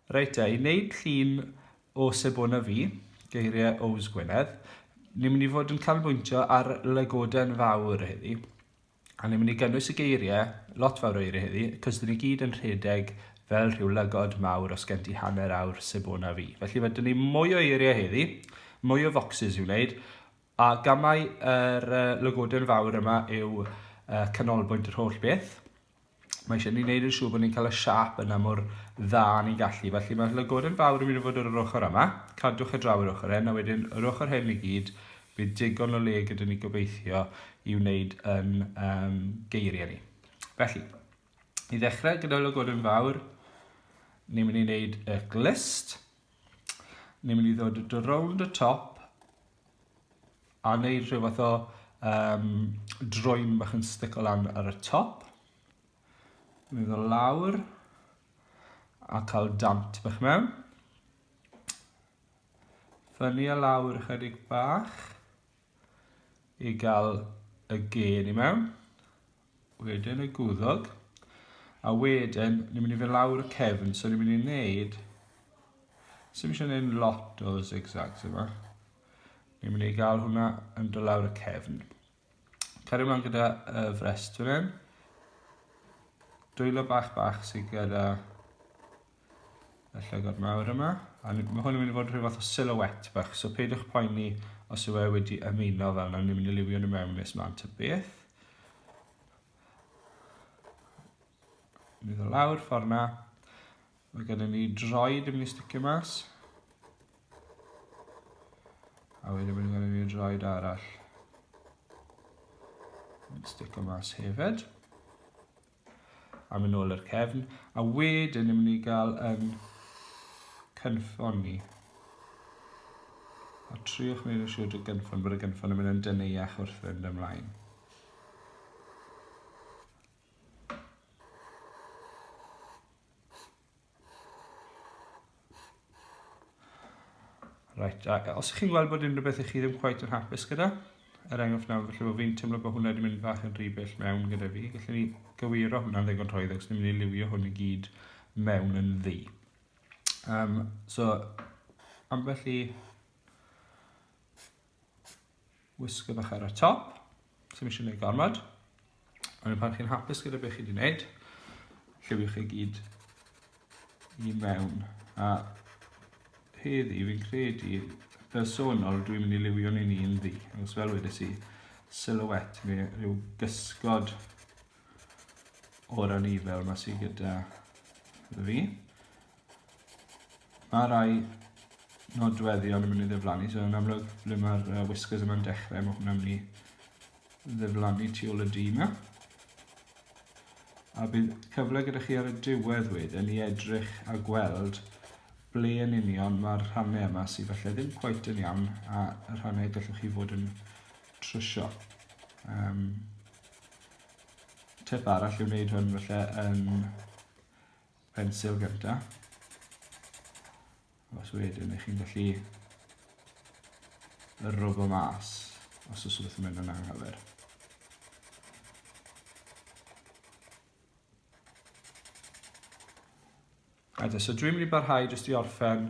Reit te, i wneud llun o Sebon a fi, geiriau Ows Gwynedd, ni'n mynd i fod yn canolbwyntio ar lygoden fawr heddi. A ni'n mynd i gynnwys y geiriau, lot fawr o eiriau heddi, cos dyn ni gyd yn rhedeg fel rhyw lygod mawr os gen ti hanner awr Sebon a fi. Felly fe dyn ni mwy o eiriau heddi, mwy o focsys i'w wneud, a gamau yr uh, lygoden fawr yma yw uh, canolbwynt yr holl beth. mae eisiau ni wneud yn siŵr bod ni'n cael y siap yna mor dda ni'n gallu. Felly mae llygod yn fawr yn mynd i fod ar yr ochr yma. Cadwch y draw yr ochr hyn, a wedyn yr ochr hyn i gyd, bydd digon o le gyda ni gobeithio i wneud yn um, geiriau ni. Felly, i ddechrau gyda llygod yn fawr, ni'n mynd i wneud y glist. Ni'n mynd i ddod rownd y top A wneud rhyw fath o um, droen bach yn stico lan ar y top. Mynd o lawr. A cael dant bach mewn. Fyny a lawr ychydig bach. I gael y gên i mewn. Wedyn y gwddog. A wedyn, ni'n mynd i fynd lawr y cefn, so ni'n mynd i wneud... Sym eisiau gwneud lot o zigzags yma. Ni'n mynd i gael hwnna yn dod lawr y cefn. Cario ymlaen gyda y frest fan hyn. Dwylo bach bach sydd gyda y llygod mawr yma, a mae hwn yn mynd i fod rhyw fath o silhouette bach, so peidiwch poeni os yw e wedi ymuno fel yna, ni'n mynd i liwio nhw mewn nes mlaen ta beth. Mynd o lawr ffordd na. Mae gennym ni droed yn mynd i sticio mas. A wedyn mynd gennym ni droed arall. Mynd sticio mas hefyd. A mynd nôl i'r cefn. A wedyn ni'n mynd i gael yn cynffon ni. A triwch wneud yn siŵr dy gynffon, bod y gynffon yn mynd yn dyneiach wrth fynd ymlaen. Right, a os ydych chi'n gweld bod unrhyw beth i chi ddim quite yn hapus gyda, er enghraifft nawr, felly bod fi'n teimlo bod hwnna wedi mynd fach yn rhy bell mewn gyda fi, gallwn ni gywiro hwnna'n ddigon rhoedd, ac ni'n mynd i liwio hwn i gyd mewn yn ddi. Um, so, ambell i Wisgo bach ar y top, sy'n eisiau gwneud gormod. Ond pan chi'n hapus gyda beth chi wedi gwneud, lliwio chi gyd i mewn. A heddi, fi'n credu, personol, dwi'n mynd i liwio ni'n un ddi. Os fel wedes i, silhouette neu rhyw gysgod o'r anifel mae sy'n gyda fi. Mae rhai nodweddion yn mynd i ddiflannu, so yn amlwg ble mae'r uh, whiskers yma'n dechrau, mae hwnna'n mynd i ddiflannu tu ôl y du yma. A bydd cyfle gyda chi ar y diwedd wedyn i edrych a gweld ble yn union mae'r rhannau yma sydd falle ddim cweit yn iawn a y rhannau gallwch chi fod yn trwsio. Um, tip arall yw wneud hwn falle yn pensil gyda. Os wedyn, ych chi'n gallu y robo mas os oes rhywbeth yn mynd yn anghywir. Rhaid, so dwi'n mynd i barhau jyst i orffen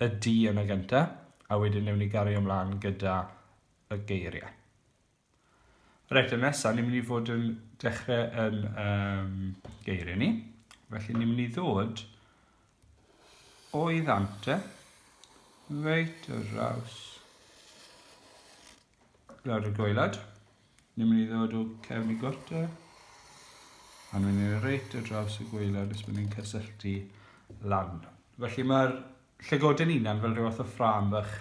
y di yn y gyntaf, a wedyn newn ni gario ymlaen gyda y geiriau. Reit, y nesaf, ni'n mynd i fod yn dechrau yn um, geiriau ni. Felly ni'n mynd i ddod o'i ddant e, reit y raws lawr y goelad. Ni'n mynd i ddod o cefn i gorte, a ni'n mynd i reit y raws y goelad nes bod ni'n cysylltu lan. Felly mae'r llygoden unan fel rhywbeth o ffram bach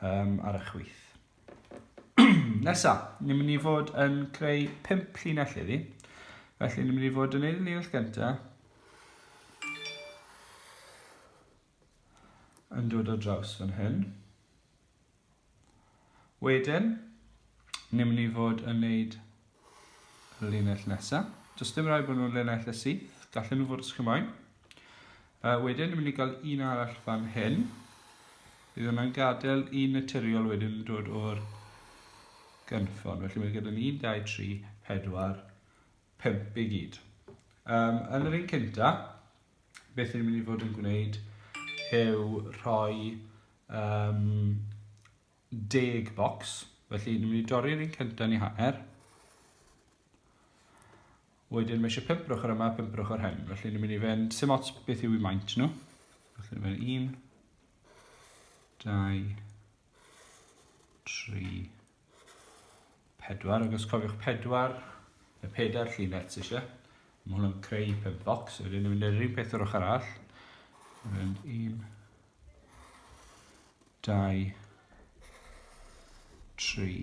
um, ar y chwith. Nesa, ni'n mynd i fod yn creu 5 llinell iddi. Felly ni'n mynd i fod yn ei llinell gyntaf. Yn dod o draws fan hyn. Wedyn, ni'n mynd i fod yn neud Linell nesa. Does dim rhaid bod nhw'n linell y syth. Gallen nhw fod ysgymau. Uh, wedyn, ni'n mynd i gael un arall fan hyn. Bydd hwnna'n gadael un naturiol wedyn yn dod o'r gynffon. Felly mae gyda'n 1, 2, 3, 4, 5 i gyd. Um, yn yr un cynta, beth ni'n mynd i fod yn gwneud yw rhoi um, deg bocs. Felly, ni'n mynd i dorri'r un cyntaf ni hanner. Wedyn, mae eisiau pimp brwch ar yma, pimp brwch ar hyn. Felly, ni'n mynd i fynd, sy'n ots beth yw i maint nhw. Felly, ni'n mynd un, dau, tri, Pedwar, ac os cofiwch pedwar, y pedair llinell ti eisiau. Mae hwn yn creu pum bocs, wedyn ni'n mynd i'r un peth o'r ochr arall. Mae'n un, dau, tri,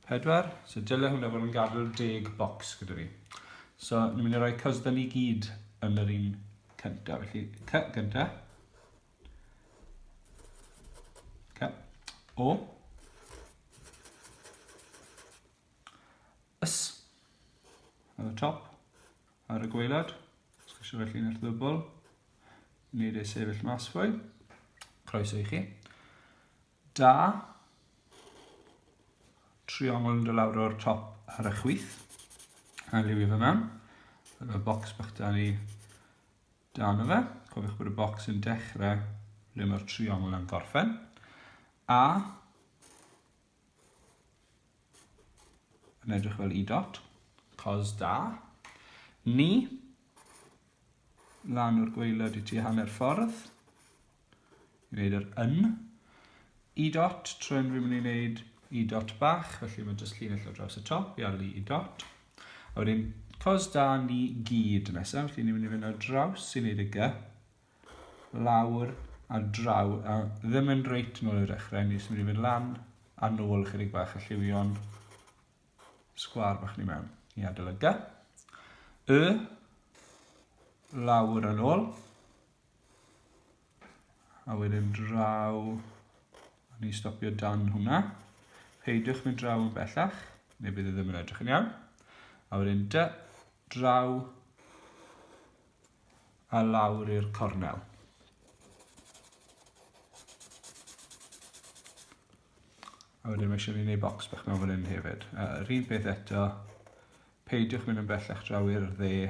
pedwar. So dylai hwnna fod yn gadw'r deg bocs gyda fi. So ni'n mynd i roi cysda ni gyd yn yr un cyntaf. Felly, cy gyntaf. Okay. O. Ys. Ar y top. Ar y gweilad. Os chi eisiau felly yn eich ddybl. Nid ei sefyll mas fwy. Croeso i chi. Da. Triongl yn dy lawr o'r top ar y chwith. A liwio fe mewn. Fel y bocs bach da ni Dan y fe, cofiwch bod y bocs yn dechrau ble mae'r triongl yn gorffen. A yn edrych fel i dot, cos da. Ni, lan o'r gweilod i ti hanner ffordd. i wneud yr yn. I dot, tro yn rwy'n mynd i wneud i dot bach, felly mae'n just llinell o draws y top i arlu i dot. A wedyn, cos da ni gyd nesaf, felly ni'n mynd i fynd ar draws i wneud y gy, lawr a draw, a ddim yn reit yn ôl i'r dechrau, ni'n mynd i fynd lan a nôl chydig bach a lliwio'n sgwar bach ni mewn i adael y gy. Y, lawr yn ôl, A wedyn draw, a ni stopio dan hwnna. Peidiwch mynd draw yn bellach, neu bydd e ddim yn edrych yn iawn. A wedyn dy, draw, a lawr i'r cornel. A wedyn mae eisiau ni wneud bocs bach mewn fan hyn hefyd. Uh, yr un peth eto, peidiwch mynd yn bellach draw i'r dde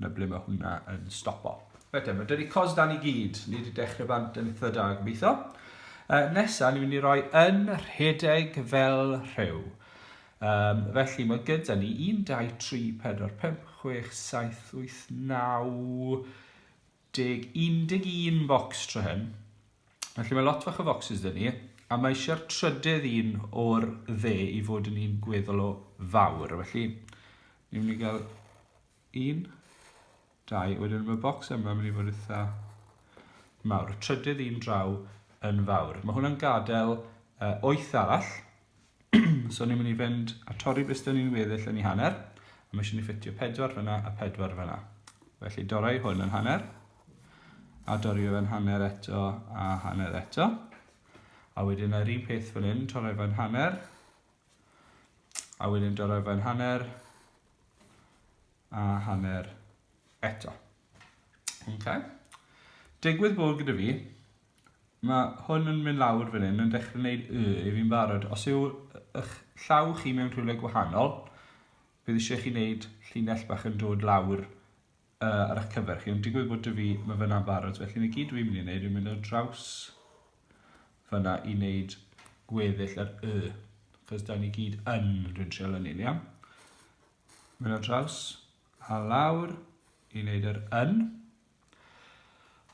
na ble mae hwnna yn stopo. Reit, mae dyna cos dan i gyd. Ni wedi dechrau bant yn eitha da, gobeithio. Uh, nesa, ni'n mynd i roi yn rhedeg fel rhyw. Um, felly mae gyda ni 1, 2, 3, 4, 5, 6, 7, 8, 9, deg, un deg un focs tro hyn. Felly mae lot fach o focsys dyn ni, a mae eisiau'r trydedd un o'r dde i fod yn un gweddol o fawr. Felly, ni'n mynd i gael un, dau, wedyn mae bocs yma yn mynd i fod eitha mawr. Y trydedd un draw yn fawr. Mae hwnna'n gadael uh, oeth arall, so ni'n mynd i fynd a torri beth dyn ni'n weddill yn ei hanner, a mae eisiau ni ffitio pedwar fyna a pedwar fyna. Felly dorau hwn yn hanner, a dorri fe fe'n hanner eto a hanner eto. A wedyn yr un peth fan hyn, torri fe'n hanner, a wedyn dorri fe'n hanner, a hanner eto. Okay. Digwydd bod gyda fi Ma' hwn yn mynd lawr fan hyn yn dechrau wneud y i fi'n barod. Os yw ych llaw chi mewn rhywle gwahanol, bydd eisiau chi wneud llinell bach yn dod lawr uh, ar eich cyfer chi. Ond digwydd bod y fi, mae fyna'n barod. Felly mae gyd fi'n mynd i wneud yw mynd o draws fyna i wneud gweddill yr y. Cos da ni gyd yn rhywun trial yn un, iawn? Mynd o draws a lawr i wneud yr yn.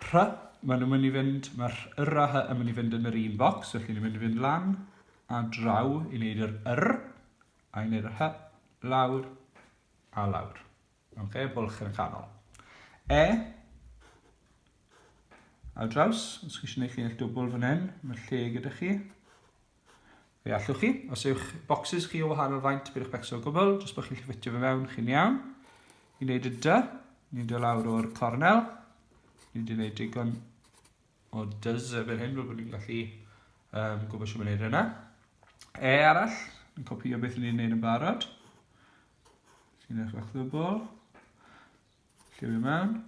Rhy, maen nhw'n mynd i fynd, mae rh, yr a hy yn mynd i fynd yn yr un bocs, felly ni'n mynd i fynd lan a draw i wneud yr yr, a i wneud yr hy, lawr a lawr. Oce, okay, bwlch yn y canol. E, a draws, os chi eisiau gwneud chi'n eich dwbl fan hyn, mae lle gyda chi. Fe allwch chi, os yw'ch bocsys chi o wahanol faint, bydd eich becso o gwbl, jyst bod chi'n llyfitio fe mewn, chi'n iawn. I wneud y dy, ni'n dod lawr o'r cornel, ni wedi gwneud digon o dyz erbyn hyn, fel bod ni'n gallu um, gwybod sy'n mynd yna. E arall, ni'n copio beth ni'n gwneud yn barod. Sy'n eich bach ddwbl. Lliwio mewn.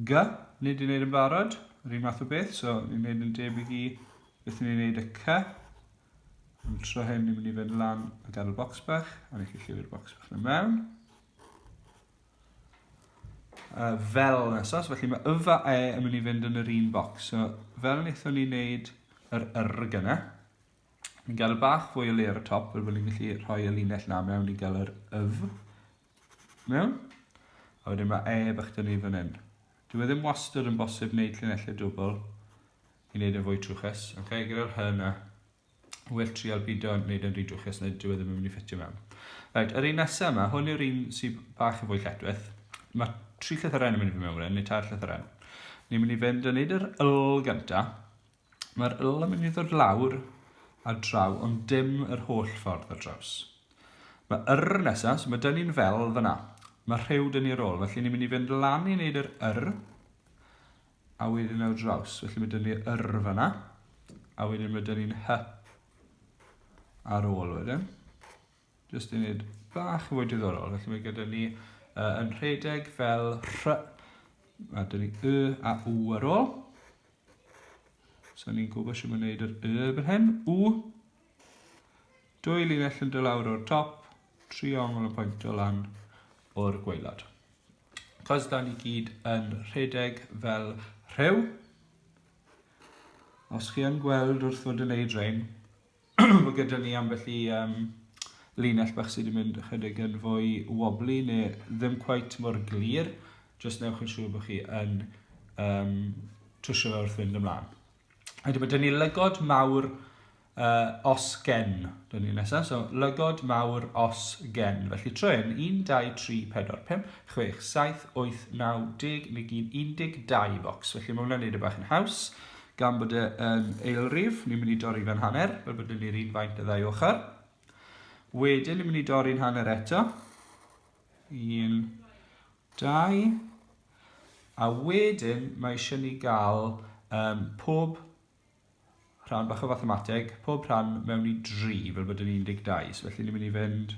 G, nid i'n neud yn barod, yr un math o beth, so ni'n neud yn debyg i beth ni'n neud y C. Am tro hyn, ni'n mynd i fynd lan a gadw bocs bach, a ni'n llyfr bocs bach yn mewn. Uh, fel nesos, felly mae yfa e yn mynd i fynd yn yr un bocs. So, fel wnaethon ni'n neud yr yrg yna, Ni'n gael y bach fwy o le ar y top, fel bod ni'n gallu rhoi y linell na mewn i gael yr yf. Iawn? A wedyn mae e bach dyn ni fan hyn. Dwi e ddim wastad yn bosib wneud llinellau dwbl i wneud yn fwy trwchus. Okay? Gyda'r hy yna, well trial bido yn wneud yn rhy drwchus neu dwi e ddim yn mynd i ffitio mewn. Right, yr un nesaf yma, hwn yw'r un sy'n bach yn fwy lletwyth. Mae tri llythyrau yn mynd i fy mewn fan hyn, neu tair llythyrau. Ni'n mynd i fynd yn neud yr yl gyntaf, Mae'r ŵyl yn mynd i ddod lawr a draw ond dim yr holl ffordd ar draws. Mae yr nesa, so mae dyn ni'n fel fyna. Mae rhyw dyn ni ar ôl, felly ni'n mynd i fynd lan i wneud yr yr a wedyn ar draws. Felly mae dyn ni yr fyna a wedyn mae dyn ni'n hy ar ôl wedyn. Just i wneud bach yn fwy diddorol, felly mae gyda ni uh, yn rhedeg fel rhy, a dyn ni y a u ar ôl. So ni'n gwybod sy'n mynd yr y erbyn hyn, u. Dwy linell yn dod lawr o'r top, tri ongl yn pwyntio lan o'r gweilad. Cos da ni gyd yn rhedeg fel rhew, os chi yn gweld wrth fod yn neud rhain, Mae gyda ni ambell i um, linell bach sydd wedi mynd ychydig yn fwy wobbly neu ddim cweit mor glir. Just newch yn siŵr bod chi yn um, trwsio fe wrth fynd ymlaen. Wedyn mae dyn ni lygod mawr uh, os gen, dyn ni nesaf. So, lygod mawr os gen. Felly trwy hyn, 1, 2, 3, 4, 5, 6, 7, 8, 9, 10, neu gyd 12 bocs. Felly mae hwnna'n neud y e bach yn haws. Gan bod e yn eilrif, ni'n mynd i dorri fe'n hanner, fel bod ni'n yr un faint y ddau ochr. Wedyn, ni'n mynd i dorri'n hanner eto. Un, dau. A wedyn, mae eisiau ni gael um, pob rhan bach o fathemateg, pob rhan mewn i dri, fel bod yn 12. So felly, ni'n mynd i fynd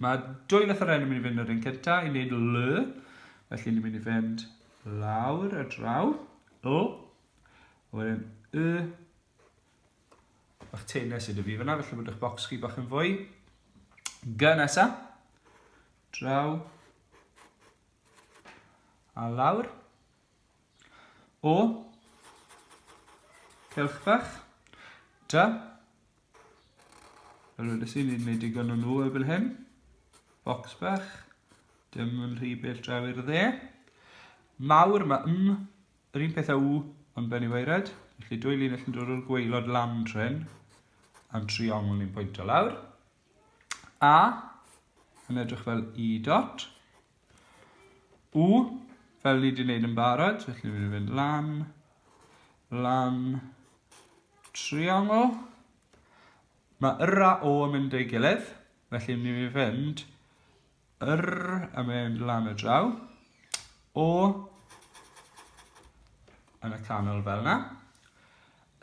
Mae dwy fath o ren yn mynd i fynd yr un cynta i wneud l, felly ni'n mynd i fynd lawr y draw, l, a wedyn y, bach teines sydd y fi fyna, felly bod eich bocs chi bach yn fwy. G nesa, draw, a lawr. O, celch bach. Da. Fel wedi i, ni'n gwneud digon o nhw erbyn hyn. Box bach. Dim yn rhy bell draw i'r dde. Mawr, mae m, yr un peth a w, ond ben i weired. Felly dwy linell yn dod o'r gweilod lan tren, a'n triongl ni'n pwynt o lawr. A yn edrych fel i dot. U fel ni wedi gwneud yn barod, felly ni'n mynd lan, lan, triongl. Mae yr a o yn mynd ei gilydd, felly ni'n mynd R, a mynd lan y draw. O, yn y canol fel yna.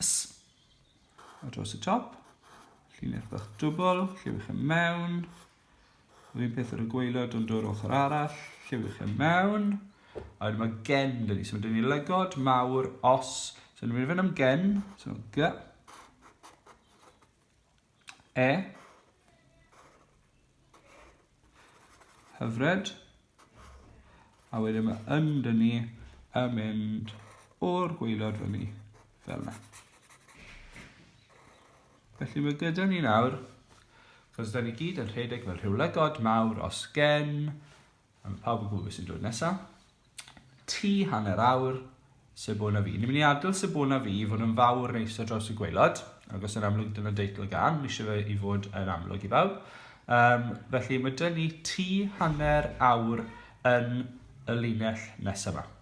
S, a dros y top. Llinell bach dwbl, lliwch yn mewn. Yr un peth ar y gweilod, ond o'r ochr arall, lliwch yn mewn. A wedyn mae gen dyn ni, so mae dyn ni lygod mawr os, so ni'n mynd i fynd am gen, so g, E. Hyfryd. A wedyn mae yn dyn ni yn mynd o'r gweilod fyny fel yna. Felly mae gyda ni nawr, cos da ni gyd yn rhedeg fel rhyw lygod mawr os gen A ma' pawb yn gwybod be sy'n dod nesa. Ti hanner awr, Sebona Fi. Ni'n mynd i adael Sebona Fi i fod yn fawr neis ar draws y gwaelod, ac os yn amlwg dyna deitl y gan, mi eisiau fe i fod yn amlwg i bawb. Um, felly mae dyn ni ti hanner awr yn y linell nesaf yma.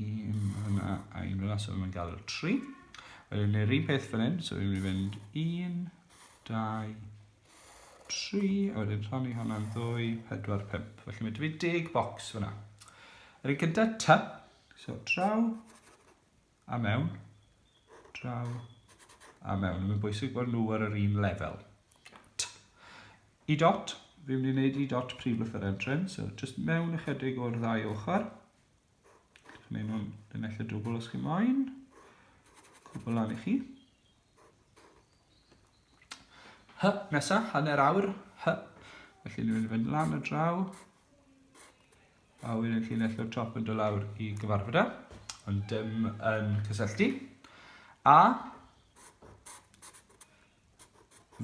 Ym hwnna, a un hwnna, so mae'n gael tri. Wedyn ni'n rhywun peth fan hyn, so ni'n mynd un, dau, tri, a wedyn rhannu hwnna'n ddwy, pedwar, pimp. Felly mae dy fi deg bocs fyna. Yr un gyda ta, so draw, a mewn, draw, a mewn. Mae'n bwysig bod nhw ar yr un lefel. I dot, fi'n mynd i wneud i dot prif lythyr entrance, so just mewn ychydig o'r ddau ochr. Mae nhw'n linell y dwbl os chi moyn. Cwbl lan i chi. Hy, nesa, hanner awr. Hy. Felly ni'n mynd lan y draw. A wedyn llinell o'r top yn dod lawr i gyfarfod e. Ond dim yn cysylltu. A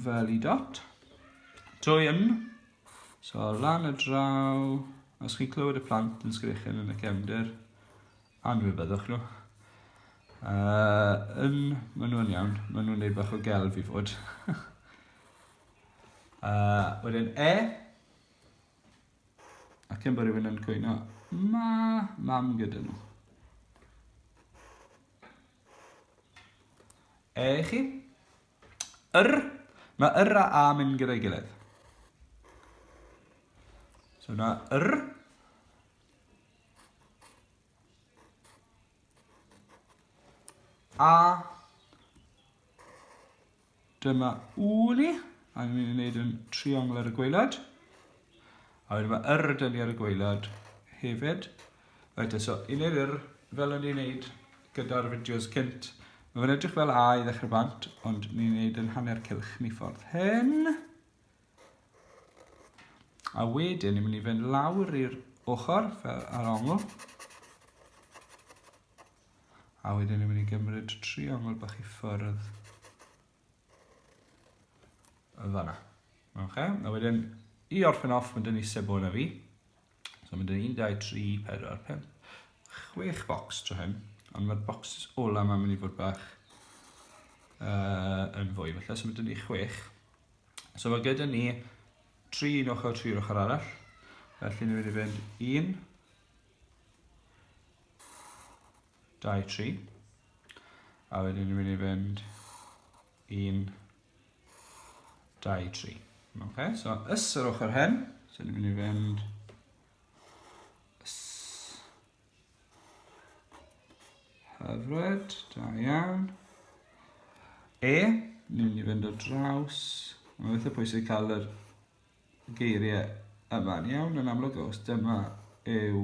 fel i dot. Drwy yn, so lan y draw, os chi'n clywed y plant yn sgrechen yn y cefnder, anwybyddwch nhw. Uh, yn, maen nhw'n iawn, maen nhw'n neud bach o gelf i fod. uh, wedyn e, ac yn bod rhywun yn cwyno, ma, mam gyda nhw. E i chi. Yr. Mae yr a a mynd gyda'i gilydd. So yna yr. A. Dyma ŵl i, a ni'n mynd i wneud yn triongl ar y gweilad. A wedyn mae yr ydyn ni ar y gweilad hefyd. Right, so i wneud yr, fel o'n i'n wneud gyda'r fideos cynt, mae fe'n edrych fel A i ddechrau bant, ond ni'n wneud yn hanner cilch ni ffordd hyn. A wedyn ni'n mynd i fynd lawr i'r ochr, fel ar ongl. A wedyn ni'n mynd i gymryd triongl bach i ffwrdd. Yn fanna. Oce, a wedyn i orffen off, mae dyn ni sebo yna fi. So mae dyn ni 1, 2, 3, 4, 5, 6 bocs tro hyn. Ond mae'r bocs ola mae'n mynd i fod bach uh, yn fwy. Felly, so mae dyn ni 6. So mae gyda ni 3 un ochr, 3 ochr arall. Felly ni'n mynd i fynd 1, 23 a wedyn ni'n mynd i fynd 1 23 ok so ys yr ochr hen so ni'n mynd i fynd ys hyfryd da iawn e ni'n mynd i fynd o draws mae'n beth o pwysig cael yr geiriau yma'n iawn yn amlwg os dyma yw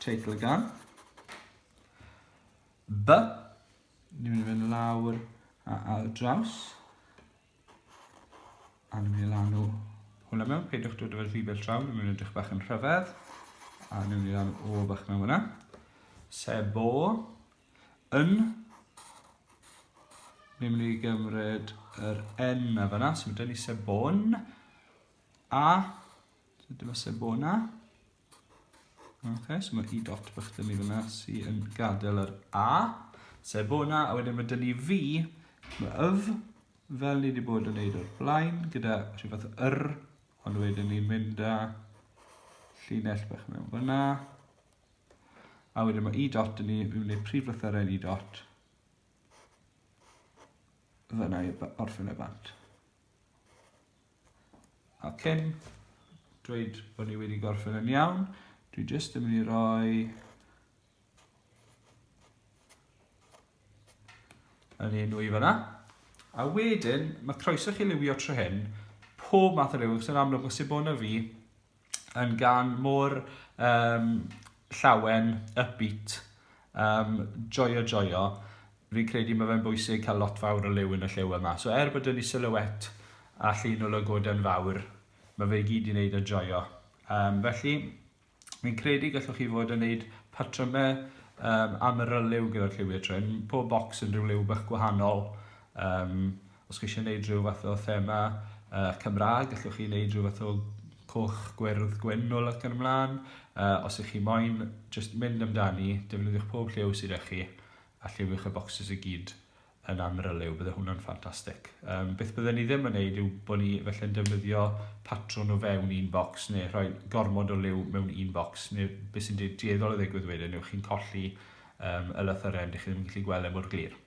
teitl y gan. B. Ni'n mynd i fynd lawr a al draws. A ni'n mynd i lanw hwnna mewn. Peidiwch dod o'r rhifell draw, ni'n mynd i edrych bach yn rhyfedd. A ni'n mynd i lanw o bach mewn hwnna. Sebo. yn ni'n mynd i gymryd yr N na fyna, so mae gen i sebon a dyma sebona. Ok, so mae i dot bych dyn ni fyna sy'n yn gadael yr A, sebona, a wedyn mae dyn ni fi, mae yf, fel ni wedi bod yn neud o'r blaen, gyda rhywbeth yr, ond wedyn ni'n mynd â llinell bach mewn fyna, A wedyn mae i dot yn ni, fi'n mynd i'r prif lythyrau i dot. Fyna i orffen y bant. A cyn dweud bod ni wedi gorffen yn iawn, dwi jyst yn mynd i roi yn un nwy fyna. A wedyn, mae croeso chi liwio trwy hyn, pob math o liw, sy'n amlwg o Sibona fi, yn gan mor um, llawen, upbeat, um, joio joio. Fi'n credu mae fe'n bwysig cael lot fawr o liw yn y lliw yma. So er bod yn i silhouette a llun o lygoden fawr, mae fe i gyd i wneud yn joio. Um, felly, fi'n credu gallwch chi fod yn wneud patrymau um, am yr yliw gyda'r lliwiau trin. Pob bocs yn rhyw liw bach gwahanol. Um, Os chi eisiau gwneud rhyw fath o thema uh, Cymraeg, allwch chi wneud rhyw fath o coch, gwyrdd, gwyn o ac yn ymlaen. Uh, os ych chi moyn, just mynd amdani, defnyddiwch pob lliw sydd â chi, a lliwiwch y bocsys i gyd yn amryliw, bydde hwnna'n ffantastig. Um, beth byddwn ni ddim yn neud yw bod ni felly'n defnyddio patrwn o fewn un bocs neu rhoi gormod o liw mewn un bocs neu beth sy'n dueddol o ddigwydd wedyn yw chi'n colli um, y lythyren, dych chi ddim yn gallu gweld e mor glir.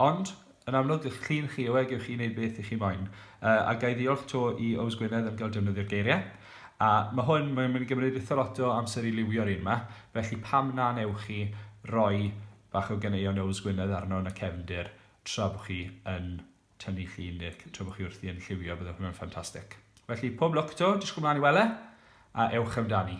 Ond, yn amlwg, dych chi'n chi yw e, gewch chi wneud beth i chi moyn. Yy, a ga i ddiolch 'to i Ows Gwynedd am gael defnyddio'r geiriau. A, ma' hwn, mae'n mynd i gymryd eitha lot o amser i liwio'r un 'ma, felly pam na wnewch chi roi bach o ganeuon Ows Gwynedd arno yn y cefndir tra bo chi yn tynnu llun ne' c- tra bo chi wrthi yn lliwio, bydde hwnna'n ffantastig. Felly, pob lwc 'to, disgwl mlaen i wele, a ewch amdani.